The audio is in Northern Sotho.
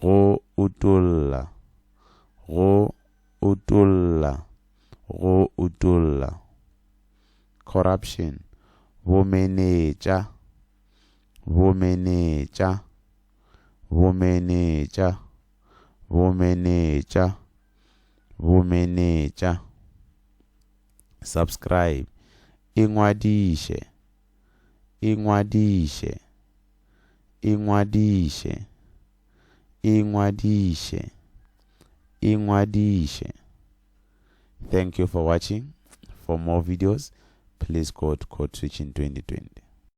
go utolla, go utolla, go utolla. Corruption, bomenetša, bomenetša, bomenetša, bomenetša, bomenetša. Subscribe, ingwadiše. Ingwadiše. Ingwadiše. Ingwadiše. Ingwadiše. Thank you for watching. For more videos, please go to Code Switching 2020.